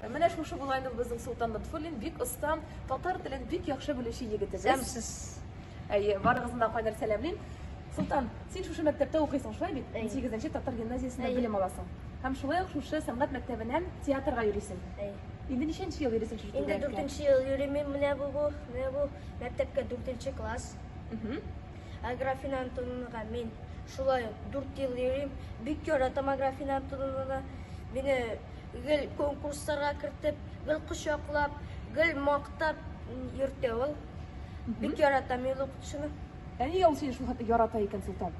Менә шушы була инде безнең Султан Лотфуллин, бик оста, татар телен бик яхшы белүче егетебез. Сәмсез. Әйе, барыгызны да кайнар сәламлим. Султан, син шушы мәктәптә укыйсың, шулай бит? 8 татар гимназиясендә белем аласың. Һәм шулай ук шушы сәнгать мәктәбеннән театрга йөрисең. Әйе. Инде ничәнче ел йөрисең шушы Инде 4 ел йөрим менә бу бу, менә бу мәктәпкә 4 класс. Ә Графина Антоновнага мин шулай 4 ел йөрим. Бик яратам Графина Антоновнаны. Мине Гел конкурсларга кертеп, гел кочаклап, гел мактап йөртә ул. Бик яратам ил укытучыны. Ә нигә ул сине шул хәтле ярата икән, Солтан?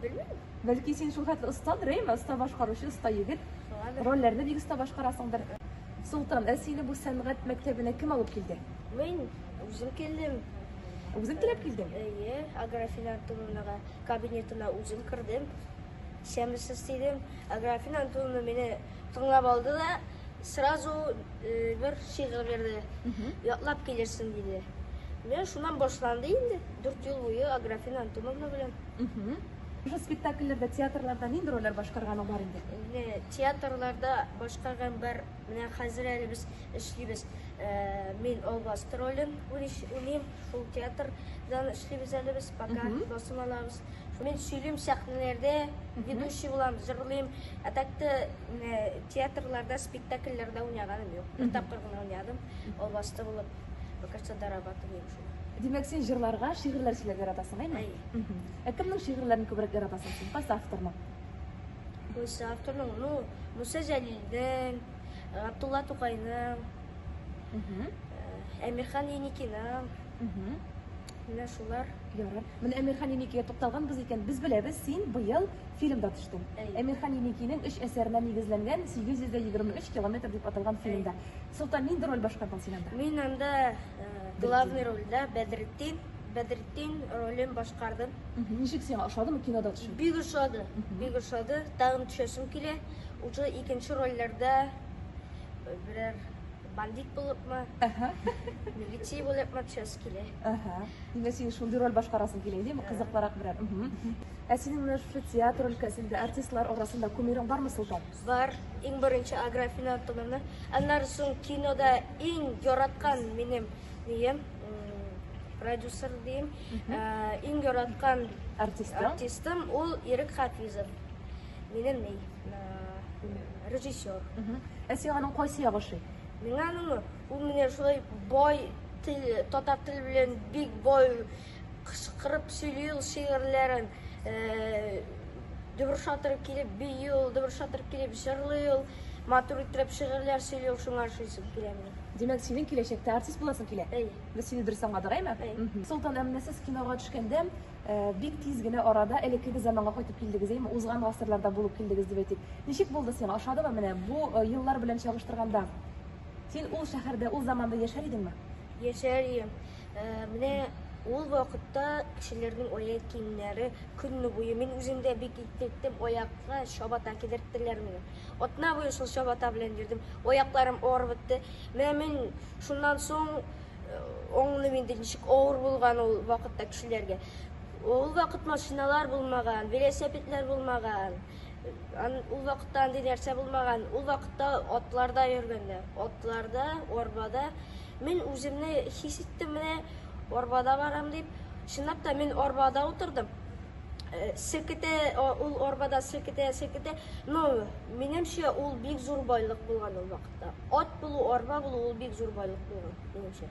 Белмим. Бәлки син шул хәтле оста дрейма, оста башкаручы, оста егет. Шуңадыр. Рольләрне бик оста башкарасыңдыр. Солтан, ә сине бу сәнгать мәктәбенә кем алып килде? Мин үзем килдем. Үзең теләп килдең? Әйе, Аграфинан Тулунага кабинетына үзем кердем. Исәнмесез, дидем. Аграфин Антоновна мине тыңлап алды да сразу э, бер шигырь бирде. Ятлап килерсең, диде. Менә шуннан башланды инде. Дүрт ел буе Аграфин Антоновна белән. Уже спектакльләрдә, театрларда нинди рольләр башкарганың бар инде? Менә театрларда башкарган бар. Менә хәзер әле без эшлибез. Э, Мин Албаст ролен уйныш- уйныйм. Шул театрдан эшлибез әле без, пока басым алабыз. Мин сөйлим сәхнәләрдә, ведущий булам, җырлыйм. Ә так та э, театрларда, спектакльләрдә уйнаганым юк. Бер тапкыр гына уйнадым, албасты булып. Покажется доработан дим шул. Димәк, син җырларга, шигырьләр сөйләп яратасың, әйме? Әйе. Мгм. Ә кемнең шигырьләрен күбрәк яратасың син? Кайсы авторның? Кайсы авторның, ну, Муса Җәлилнең, Габдулла Тукайның, Мгм. э, Әмирхан Еникиның, Мгм. Менә шулар. Ярар. Менә Әмирхан Еникигә тукталганбыз икән, без беләбез, син быел фильмда төштең. Әй. Әмирхан Еникинең өч әсәренә нигезләнгән 823 километр дип аталган фильмда. Әй. Солтан, нинди роль башкардың син анда? Мин анда главный рольдә Бәдретдин, Бәдретдин ролен башкардым. Мхм. Ничек сиңа, ошадымы кинода төшү? Бик ошады, бик ошады. Тагын төшәсем килә. Уже икенче рольләрдә берәр. Бандит булыпмы? Әһә. Милиция булыпмы? Төс килә. Әһә. Димә син шундый роль башкарасың килә, димә, кызыклырак берәр. Ә синең менә шушы театр өлкәсендә артистлар арасында кумирың бармы, Солтан? Бар. Иң беренче Аграфина Антоновна. Аннары соң кинода иң яраткан минем дием, продюсер дием, иң яраткан артистым ул Ирек Хафизов. Минем ни? Режиссер. Ә сиңа аның кайсы ягы ошый? Миңа аны ул менә шулай бай тел, татар теле белән бик бай кычкырып сөйли ул шигырьләрен. Э, Дөреш атырып килеп бии ул, дөреш атырып килеп җырлый ул. Матур итеп шигырьләр сөйли ул, шуңа ошыйсы килә миңа. Димәк, синең киләчәктә артист буласың килә? Әйе. Без сине дөрес аңладык, әйме? Әйе. Солтан, ә менә сез кинога төшкәндә Э, бик тиз генә арада элеккеге заманга кайтып килдегез, әйме, узган гасырларда булып килдегез дип әйтик. Ничек булды сиңа? Ошадымы менә бу э, еллар белән чагыштырганда? Син ул шәһәрдә, ул заманда яшәр идеңме? Яшәр идем. Э, менә ул вакытта кешеләрнең аяк киемнәре көнне буе мин үзем дә бик иттем, аякка чабата кидерттеләр мине. Атна буе шул чабата белән йөрдем. Аякларым авырып бетте. Менә мин шуннан соң Аңлыйм инде ничек авыр булган ул вакытта кешеләргә. Ул вакыт машиналар булмаган, велосипедлар булмаган. Ул вакытта андый нәрсә булмаган. Ул вакытта атларда йөргәннәр. Атларда, арбада. Мин үземне хис иттем менә арбада барам дип. Чынлап та мин арбада утырдым. Э, Селкетә, ул арбада селкетә, селкетә. Но, минемчә, ул бик зур байлык булган ул вакыт. Ат булу, арба булу ул бик зур байлык булган, минемчә.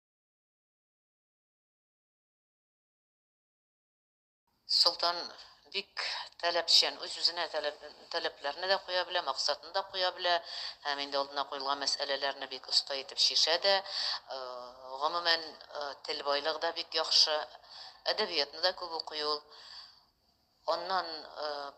Солтан бик таләпчән, үз-үзенә таләпләрне дә куя белә, максатны да куя белә, һәм инде алдына куелган мәсьәләләрне бик оста итеп чишә дә. Гомумән, тел байлыгы да бик яхшы, әдәбиятны да күп укый ул. Аннан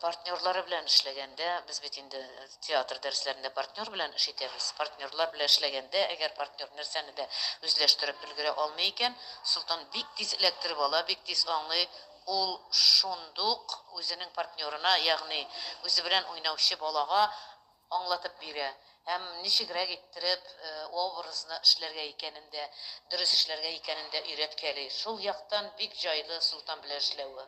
партнерлары белән эшләгәндә, без бит инде театр дәресләрендә партнер белән эш итәбез. Партнерлар белән эшләгәндә, әгәр партнер нәрсәне дә үзләштереп өлгерә алмый икән, Солтан бик тиз эләктереп ала, бик тиз аңлый. Ул шундук үзенең партнерына, ягъни үзе белән уйнаучы балага аңлатып бирә һәм ничегрәк иттереп образны эшләргә икәнен дә, дөрес эшләргә икәнен дә өйрәткәли. Шул яктан бик җайлы Солтан белән эшләве.